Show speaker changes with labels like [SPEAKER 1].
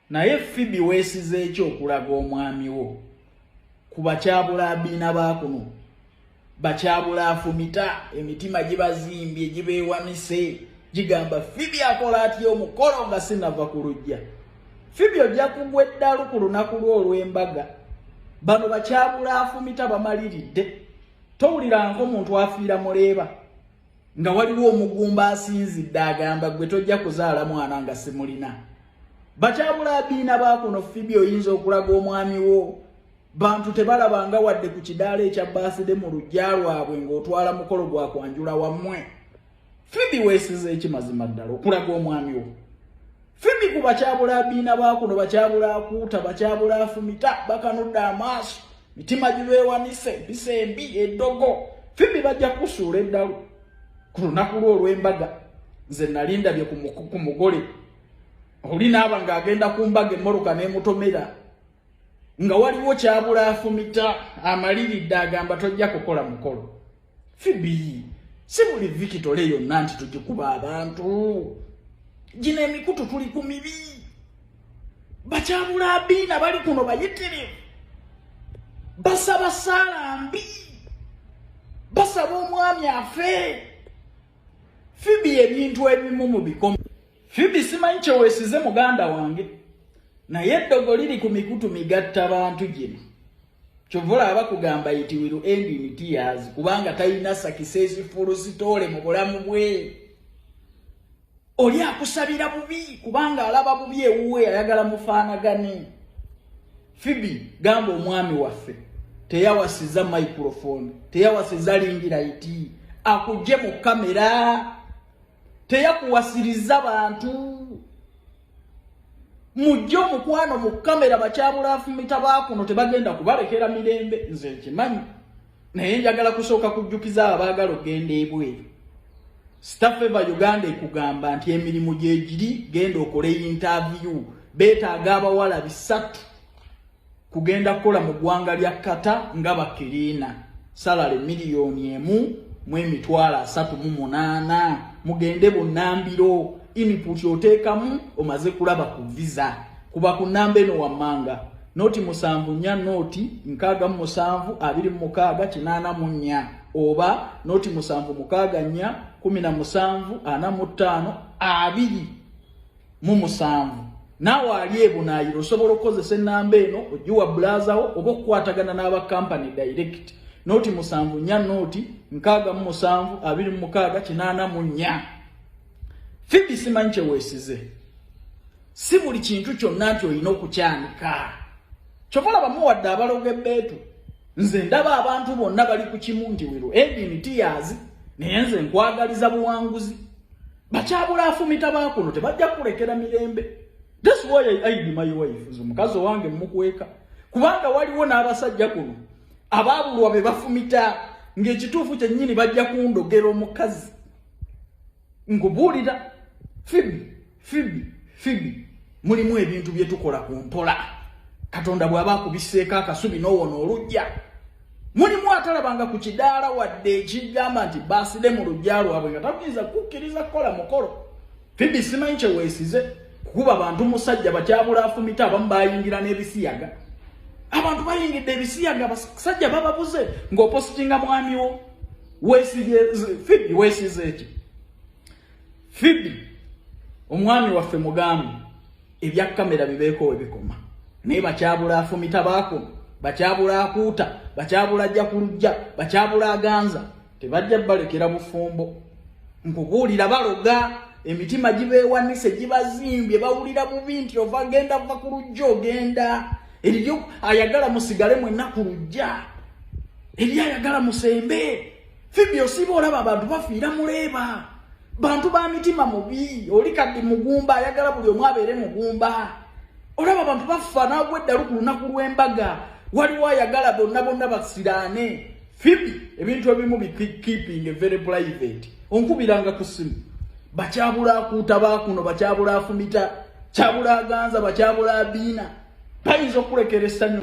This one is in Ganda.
[SPEAKER 1] Naye Phoebe wesize ekyo okulaga omwami wo kuba kyabula abina bakuno bakyabula afumita emitima gibazimbye gibeewamise gigamba Phoebe akola atya omukolo nga sinava ku lujja Phoebe ojja kugwa eddalu ku lunaku lwo olw'embaga bano bakyabula afumita bamaliridde towulirang'omuntu afiira muleeba nga waliwo omugumba asinzidde agamba gwe tojja kuzaala mwana nga simulina bakyabula abiina bakuno fibi oyinza okulaga omwami wo bantu tebalabanga wadde ku kidaala ekya baaside mu lujja lwabwe ng'otwala mukolo gwa kwanjula wammwe fibi weesiza ekimazima ddala okulaga omwami wo fimbi ku bakyabula abiina bakuno bakyabula akuuta bakyabula afumita bakanudde amaaso mitima gibeewanise empisa embi eddogo fimbi bajja kukusuula eddalu ku lunaku lwo olw'embaga nze nalindabye ku mugole oli naaba ng'agenda ku mbaga emmoloka n'emutomera nga waliwo kyabula afumita amaliridde agamba tojja kukola mukolo fibi si buli vikitole yonna nti tugikuba abantu gino emikutu tuli ku mibi bakyabula abiina bali kuno bayitirivu basaba saala mbi basaba omwami afe fibi ebintu ebimu mu bikomo Fibi simanyi kyewesize muganda wange naye eddogo liri ku mikutu migatta bantu gino kyova olaba kugamba iti wiru endi mitiyazi kubanga talina sakisesi fulusitoole mu bulamu bwe oli akusabira bubi kubanga alaba bubi ewuwe ayagala mufaanagane fibi gamba omwami waffe teyawasiza microfone teyawasiza lingira iti akugye mu kamera teyakuwasiriza bantu mujje omukwano mu kamera bakyabulafumita bakuno tebagenda kubalekera mirembe nze nkimanyi naye njagala kusooka kujjukiza abaagala okugenda ebweru stafeva uganda ekugamba nti emirimu gyegiri genda okole yintaviyu betaaga abawala bisatu kugenda kukola mu ggwanga lya kata nga bakiriina salale miliyoni emu mu emitwalo asatu mu munaana mugende bunambiro iniputi oteekamu omaze kulaba ku visa kuba ku namba eno wammanga noti musanvu nnya noti nkaaga mu musanvu abiri mu mukaaga kinaana mu nnya oba noti musanvu mukaaga nnya kumi na musanvu ana mu ttaano abiri mu musanvu naawe ali ebunaayira osobola okukozesa ennamba eno ogiwa bulazawo oba okukwatagana n'aba kampany direct nooti musanvu nnya nooti nkaaga mu musanvu abiri mu mukaaga kinaana mu nnya fibi simanyi kyeweesize si buli kintu kyonna nti olina okukyanika kyova olabamu wadde abaloga ebbeetu nze ndaba abantu bonna bali ku kimu nti wiro edini tiyazi naye nze nkwagaliza buwanguzi bakyabula afumita bakuno tebajja kulekera mirembe this why I, I be my wife nze omukazi owange mmukweka kubanga waliwo n'abasajja kuno abaabulwa be bafumita ng'ekituufu kyennyini bajja kundogera omukazi nkubuulira fibi fibi fibi mulimu ebintu bye tukola ku mpola katonda bw'aba akubiseeko akasubi n'owona olujja mulimu atalabanga ku kidaala wadde ekigamba nti baaside mu lujja lwabwe nga takuyinza kukkiriza kukola mukolo fibi simanyi kyeweesize kukuba bantu musajja bakyabula afumita abamu bayingira n'ebisiyaga abantu bayingidde ebisiyaga abasajja bababuze ng'opositinga mwamiwo fibi weesize eki fibi omwami waffe mugambi ebya kamera bibeeko we bikoma naye bakyabula afumita baakuma bakyabula akuuta bakyabula ajja ku lujja bakyabula aganza tebajja balekera bufumbo nkubuulira baloga emitima gibeewanise gibazimbye bawulira bubi nti ova genda va ku lujja ogenda eriyo ayagala musigale mwenna ku lujja eri ayagala musembe Fibi osiba olaba abantu bafiira muleeba bantu ba mitima mubi oli kaddi mugumba ayagala buli omu abeere mugumba olaba abantu baffa naagwa eddalu ku lunaku lw'embaga waliwo ayagala bonna bonna basiraane fibi ebintu ebimu bikeeping very private onkubiranga ku simu bakyabula akuuta baakuno bakyabula afumita kyabula aganza bakyabula abiina bayinza okukulekera essanyu